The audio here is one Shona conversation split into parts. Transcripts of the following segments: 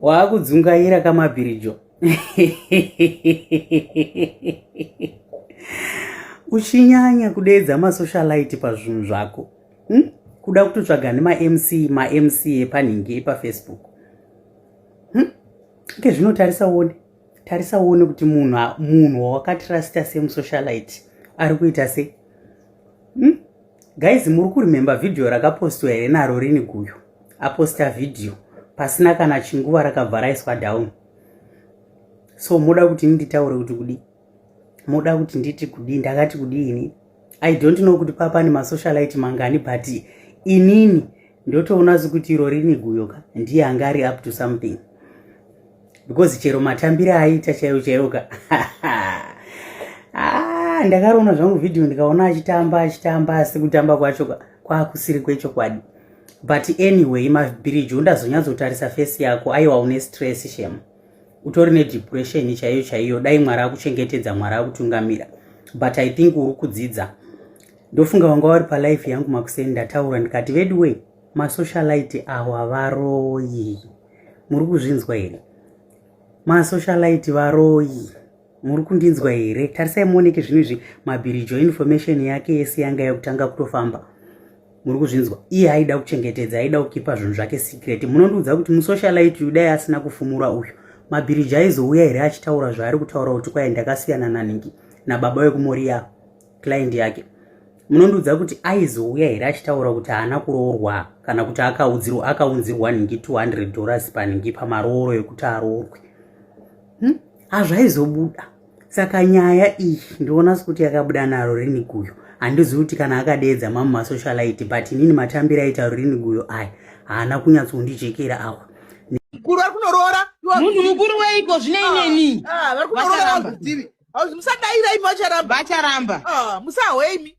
waakudzungaira kamabhirijo uchinyanya kudeedza masocialite pazvinhu zvako hm? kuda kutotsvaga nemamc mamc epanhingi epafacebook hm? ke zvinotarisa uone tarisa uone kuti munhu munhu wawakatrasta semusocialite ari kuita se hmm? guys muri kurememba vhidhiyo rakapostwa here naro rini guyo aposta vhidhiyo pasina kana chinguva rakabva raiswa down so moda kuti nditaure kuti kudii moda kuti nditi kudii ndakati kudii ini i don't know kuti paa pane masocialite mangani but inini ndotoona zi kuti iro rini guyo ka ndiye anga ari up to something because chero matambire aita chaiyo chaiyo ka ah, ndakaroona zvangu vhidhiyo ndikaona achitamba achitamba asi kutamba kwacho kwakusiri kwechokwadi but anyway mabhiriji undazonyatsotarisa fesi yako aiwa une stress shema utori nedepression chaiyo chaiyo dai mwari akuchengetedza mwari akutungamira but i think uri kudzidza ndofunga vanga vari palife yangu makuseni ndataura ndikati veduwei masocialite awa varoyi muri kuzvinzwa here masocialite varoyi muri kundinzwa here tarisai muoneke zvinhu izvi mabhirijo information yake yese yanga yakutanga kutofamba muri kuzvinzwa iye aida kuchengetedza aida kukipa zvinhu zvake secret munondiudza kuti musocialite uyu dai asina kufumura uyu mabhiriji aizouya here achitaura zvaari kutaura kuti kwaye ndakasiyana naningi nababa wekumoriya client yake munondiudza kuti aizouya here achitaura kuti haana kuroorwa kana kuti akaudzirwa akaunzirwa ningi 200 dollars paningi pamarooro ekuti aroorwe hmm? hazvaizobuda saka nyaya iyi ndoona sekuti yakabuda naro rini guyo handizivi kuti kana akadeedza mamu masocialite but inini matambiro aita rini guyo aya haana kunyatsondijekera awa mukuru ari kunoroora munhu mukuru weiko zvineineni ah, ah, vari kunoroora vakuzivi musadaira imi vacharamba vacharamba ah, musahwe imi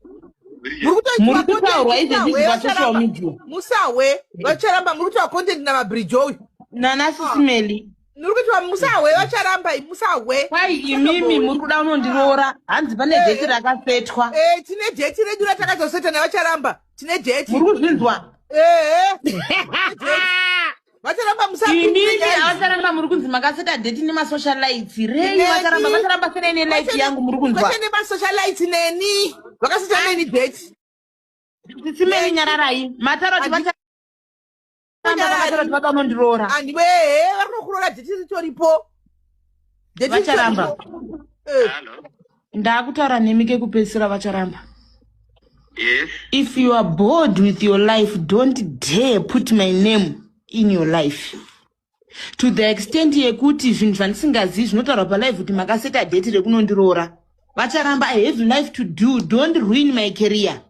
muri kutaurwa izvezvi zvasocial media musahwe vacharamba muri kutaura content namabrijo uyu nana sisimeli muri kuti va- musahwe vacharamba i- musahwe kwai imimi muri kuda unondiroora hanzi pane Eh, dheti eh. rakasetwa Eh, tine dheti redu ratakazoseta nevacharamba tine dheti muri kuzvinzwa Eh, vacharamba imimi musapinda avacharamba muri kunzi makaseta dheti nemasocialites rei Neni. vacharamba vacharamba senei nelife yangu muri kunzwa vachende masocialite neni vakasita neni dheti sisimei nyararai mataro kuti Adi- vacha- vanondiroora andiwe he vari kunokuroora dheti ritoripo Dheti Vacharamba. ritoripo. Eh, Hello. ndakutaura nemi kekupedzisira vacharamba Yes. if you are bored with your life don't dare put my name in your life to the extent yekuti zvinhu zvandisingazivi zvinotaurwa palive kuti makaseta dheti rekunondiroora vacharamba i have life to do don't ruin my career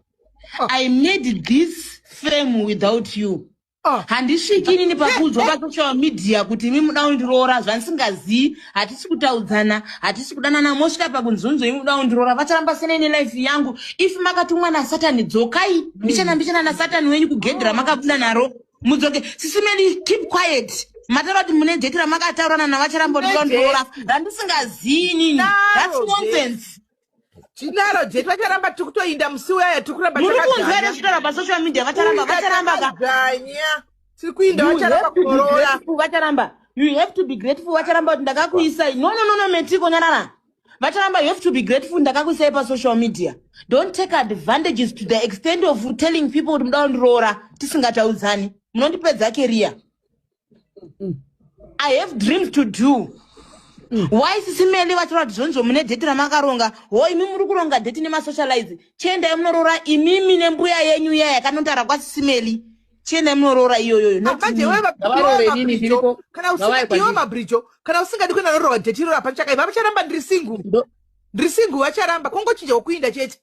ah. i made this fame without you ah. handisviki inini pakuudzwa pasocial media kuti imi muda undiroora zvandisingazivi hatisi kutaudzana hatisi kudanana mosvika pakunzunzo imi muda undiroora vacharamba sena ine life yangu if makatumwa nasatani dzokai mbichana mbichana nasatani wenyu kugedhi ramakabuda naro mudzoke sisi medi keep quiet mataura kuti mune dheti ramakataurana navacharamba ndikandiroora randisingazii nini thats nonsense tinaro jetu vacharamba tiri kutoinda musi uyaya tiri kuramba muri kunzwa here zvitaura pasocial media vacharamba vacharamba kaganya tiri kuinda vacharamba kuorora vacharamba you have to be grateful vacharamba kuti ndakakuisai no no no no metiko nyarara vacharamba you have to be grateful ndakakuisai pasocial media don't take advantages to the extent of telling people kuti muda kundiroora tisingataudzani munondipedza keriya i have dreams to do mm. why sisi meli vataura kuti zvonizvo mune deti ramakaronga ho imi muri kuronga deti nemasocialize chiendai munoroora imimi nembuya yenyu iya yakanotara kwasisi meli chiendai munoroora iyoyoyoiwe mabrijo kana usingadi kuenda norova deti iroro hapachakaiva vacharamba ndiri singu ndiri singu vacharamba kungochinja wokuinda chete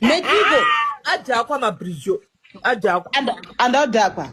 Mekiko adhakwa mabridge adhakwa. And, and adhakwa.